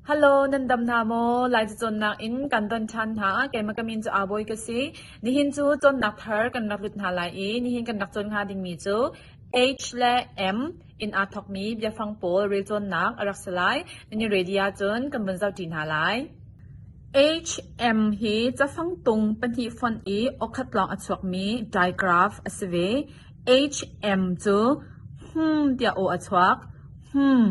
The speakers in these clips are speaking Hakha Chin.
Hello, nan dam hna maw? Lai ca cawnnak in kan don ṭhan hna. Keimah ka min cu Aa Bawi ka si. Nihin cu cawnnak thar kan rak lut hna lai i nihin kan rak cawn hnga dingmi cu H le M in aa thawkmi biafang pawl relcawnnak a rak si lai. Nan i ready ahcun kan vun zohṭi hna lai. HM hi cafangtung pahnih fonh i okhat lawng a chuakmi digraph a si ve. HM cu hum tiah aw a chuak. Hum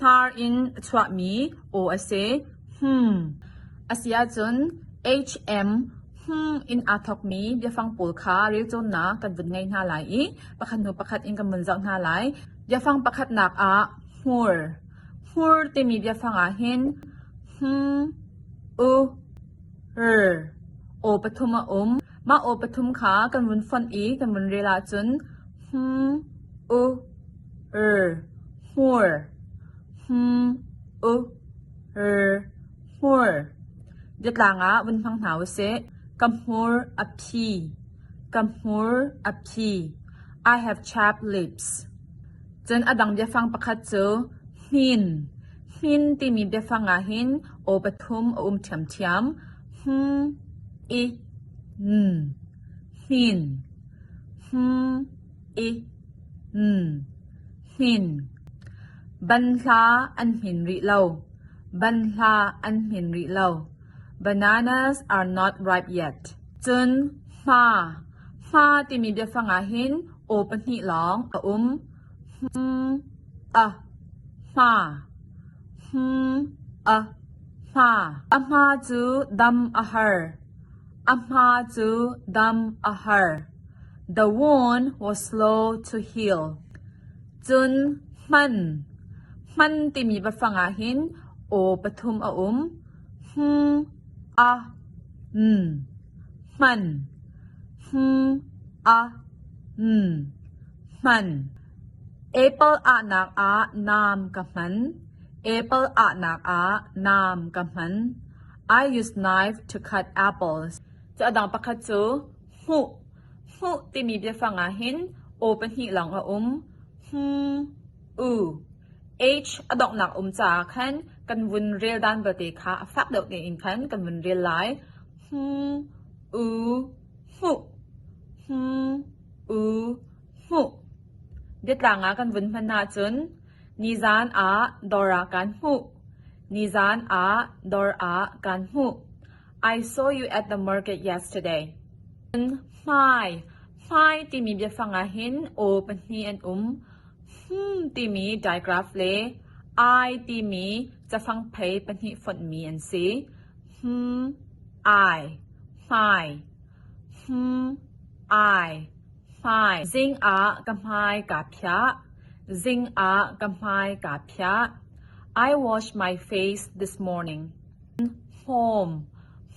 Hnar in a chuahmi aw a si. Hmum a si ahcun HM hmung in aa thawkmi biafang pawl kha relcawnnak kan vun ngei hna lai i pakhat hnu pakhat in kan vun zoh hna lai. Biafang pakhatnak ah hmur. Hmur timi biafang ah hin hmung, u, r aw pathum a um. Mah aw pathum kha kan vun fonh i kan vun rel ahcun hmung, u, Er hmur hmu-u er hmur biatlang ah vun hmang hna u sih. Ka hmur a phi. Ka hmur a phi. I have chapped lips. Cun a dang biafang pakhat cu hmin. Hmin timi biafang ah hin aw pathum a um ṭhiamṭhiam. Hm, i, n. Hmin. Hm, Hnin ban hla an hnin rih lo. Bananas are not ripe yet. Cun hma timi biafang ah hin aw pahnih lawng a um. A hma cu dam a har. The One was slow to heal, cun hman, hman timi biafang ah hin aw pathum a um: hmng, a, n, hman, hmng, a, n, hman. Apple ahnak ah naam ka hman. Apple ahnak ah naam ka hman. I use knife to cut apples. Cu a dang pakhat cu Hmuh, hmuh timi biafang ah hin aw pahnih lawng a um. Hmmm, u, h a donghnak um caah khan kan vun reldan vialte kha a fak deuh tein khan kan vun rel lai. Hmmm, u, hmuh, hmmm, u, hmuh. Biatlang ah kan vun hman ahcun nizan ah dawr ah kaan hmuh. Nizan ah dawr ah kaan hmuh. I saw you at the market yesterday. Cun hmai, hmai timi biafang ah hin aw pahnih an um. Hmum timi digraph le I timi cafang phei pahnih fonhmi an si. Hmum, I, hmai. Hmum, I, hmai. Zing ah ka hmai kaa phiah. Zing ah ka hmai kaa phiah. I wash my face this morning. Hmawm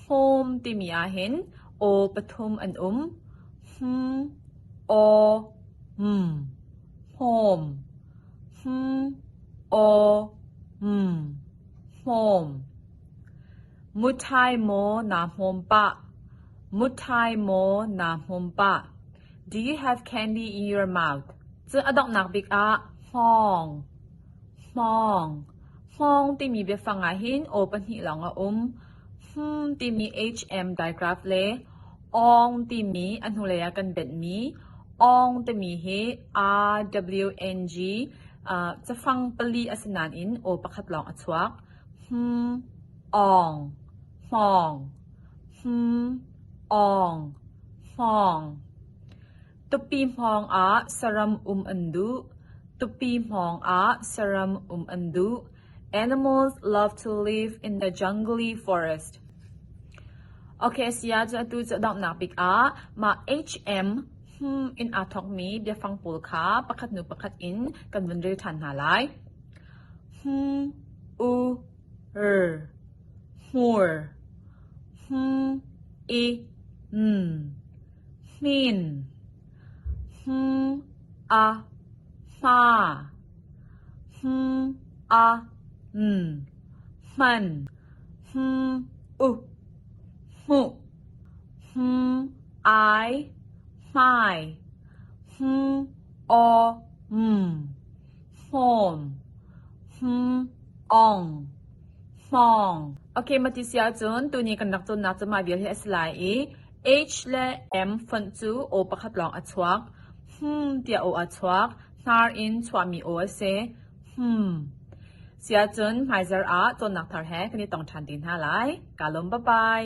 Hmawm timi ahhin aw pathum an um. Hmn Aw Hmn Hmawm Hmn Aw Hmn Hmawm Muṭhai maw naa hmawm pah Muṭhai maw naa hmawm pah Do you have candy in your mouth? Cun a donghnak bik ah hmawng Hmawng Hmawng timi biafang ahhin aw pahnih lawng a um. Hmum timi hm digraph le awng timi a hnulei ah kan benhmi awng timi hi RWNG ah cafang pali a si nain aw pakhat lawng a chuak. Hmum, awng, hmawng, hmum, awng, hmawng. Tupi hmawngah saram um an duh. Tupi hmawngah saram um an duh. Animals love to live in the jungly forest. Okay, siya cu atu cu donghnak bik ah mah HM hmm in aa thokmi biafang pawl kha pakhat hnu pakhat in kan vun rel ṭhan hna lai. Hmung, u, r, hmur, hmung, i, n. hmin, hmung a hma, hmung a n, hman, hmung u, hmuh, hmung ai, hmai, hmung aw m, hmawm, hmung ong, hmawng. Okay, mati si ahcun tuni kan rak cawnnak cu mah vial hi a si lai i H le M fonh cu aw pakhat lawng a chuak. Hmmm tiah aw a chuak. Hnar in chuahmi aw a si. Hmmm siahcun hmaizarh ah cawnnak thar he kan i tong ṭhan te hna lai. Kaa lawm, bye-bye.